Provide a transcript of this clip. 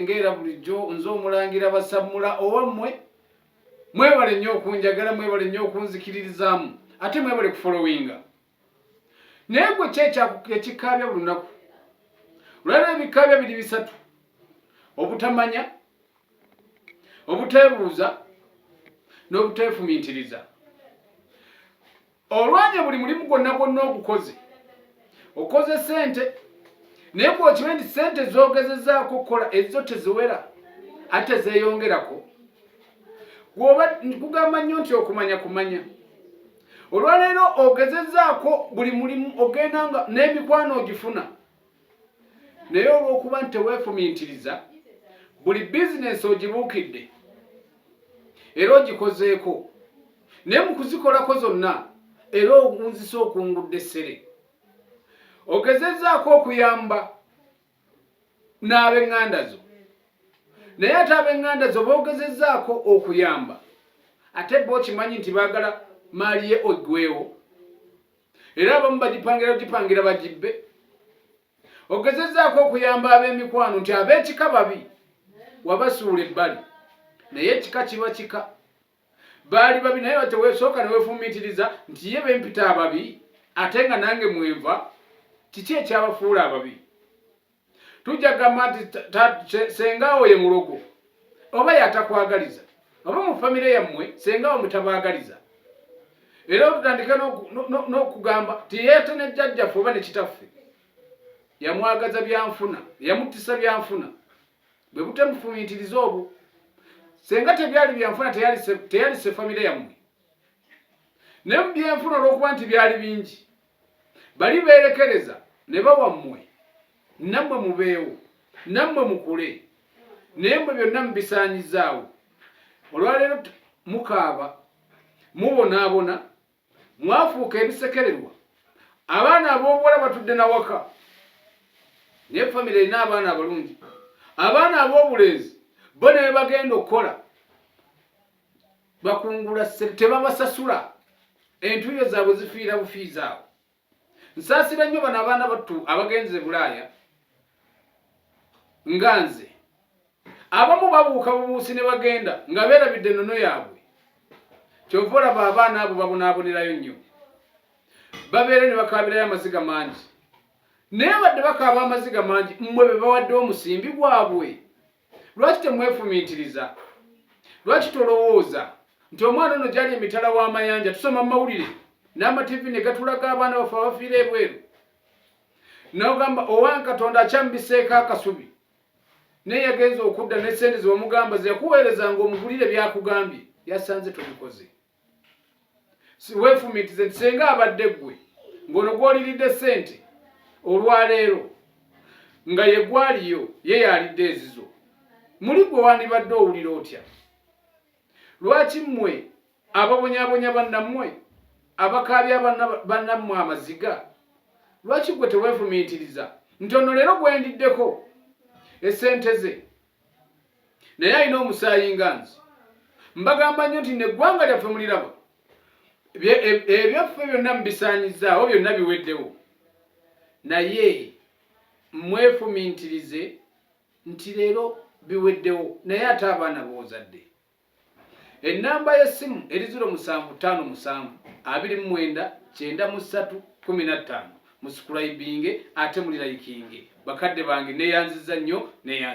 ng'era bulijjo nze omulangira basammula owammwe mwebale nnyo okunjagala mwebale nnyo okunzikiririzaamu ate mwebale kufolowinga naye gwe ki ekikaabya buli lunaku lwalina ebikaabya biri bisatu obutamanya obuteebuuza n'obuteefumiitiriza olwanye buli mulimu gwonna gwonna ogukoze okoze sente naye gwokimanyi nti sente zogezezaako okukola ezo teziwera ate zeyongerako gwoba kugamba nnyo nti okumanya kumanya olwaleero ogezezaako buli mulimu ogenda nga n'emikwano ogifuna naye olw'okuba nti teweefumiitiriza buli bizinensi ogibuukidde era ogikozeeko naye mu kuzikolako zonna era okunzisa okungudde essere ogezezaako okuyamba n'ab'eŋŋanda zo naye ate ab'eŋŋanda zo boogezezaako okuyamba ate bo okimanyi nti baagala maali ye ogwewo era abamu bagipangira ogipangira bagibbe ogezezaako okuyamba ab'emikwano nti ab'ekika babi wabasuula ebbali naye ekika kiba kika baali babi naye batewesooka newefumitiriza nti ye bempita ababi ate nga nange mwenva kiki ekyabafuula ababi tujja kugamba nti sengaawo ye mulogo oba yatakwagaliza oba mu famire yammwe sengaawo mutabaagaliza era otutandike n'okugamba ti yeete ne jjajjaffe oba ne kitaffe yamwagaza byanfuna yamuttisa byanfuna bwe butemufumiitiriza obwo senga tebyali byanfuna teyalise famire yammwe naye mu byenfuna olw'okuba nti byali bingi bali beerekereza ne bawa mmwe nammwe mubeewo nammwe mukule naye mwe byonna mubisaanyizaawo olwaleero mukaaba mubonaabona mwafuuka ebisekererwa abaana ab'obuwala batudde nawaka naye famire erina abaana abalungi abaana ab'obulenzi bo ne bebagenda okukola bakungula ssente tebabasasula entuuyo zaabwe zifiira bufiizi awo nsaasira nnyo bano abaana battu abagenze bulaaya nga nze abamu babuuka bubuusi ne bagenda nga beerabidde ennono yaabwe kyova olaba abaana abo babonaabonerayo nnyo babeere ne bakaabirayo amaziga mangi naye badde bakaaba amaziga mangi mmwe be bawadde omusimbi gwabwe Lwaki temwefumiitiriza? Lwaki tolowooza nti omwana ono gyali emitala w'amayanja? Tusoma mu mawulire n'amativi ne gatulaga abaana baffe abafiira ebweru. N'ogamba owange Katonda akyambiseeko akasubi, naye yagenze okudda ne ssente ze wamugamba ze yakuweerezanga omugulire byakugambye yasanze tobikoze. weefumiitize nti senga abadde ggwe ng'ono gw'oliridde ssente olwaleero nga ye gwaliyo ye yalidde ezizo muli gwe wandibadde owulira otya lwaki mmwe ababonyabonya bannammwe abakaabya bannammwe amaziga lwaki gwe teweefumiitiriza nti ono leero gwendiddeko esente ze naye alina omusaayi nga nze mbagamba nnyo nti neggwanga lyaffe muliraba ebyaffe e, byonna mubisaanyizaawo byonna biweddewo naye mwefumintirize nti leero biweddewo naye ate abaana boozadde ennamba y'essimu eri ziro musanvu ttaano musanvu abiri mu mwenda kyenda mu ssatu kumi na ttaano musukulaibinge ate mulirayikinge bakadde bange neyanziza nnyo neyanzi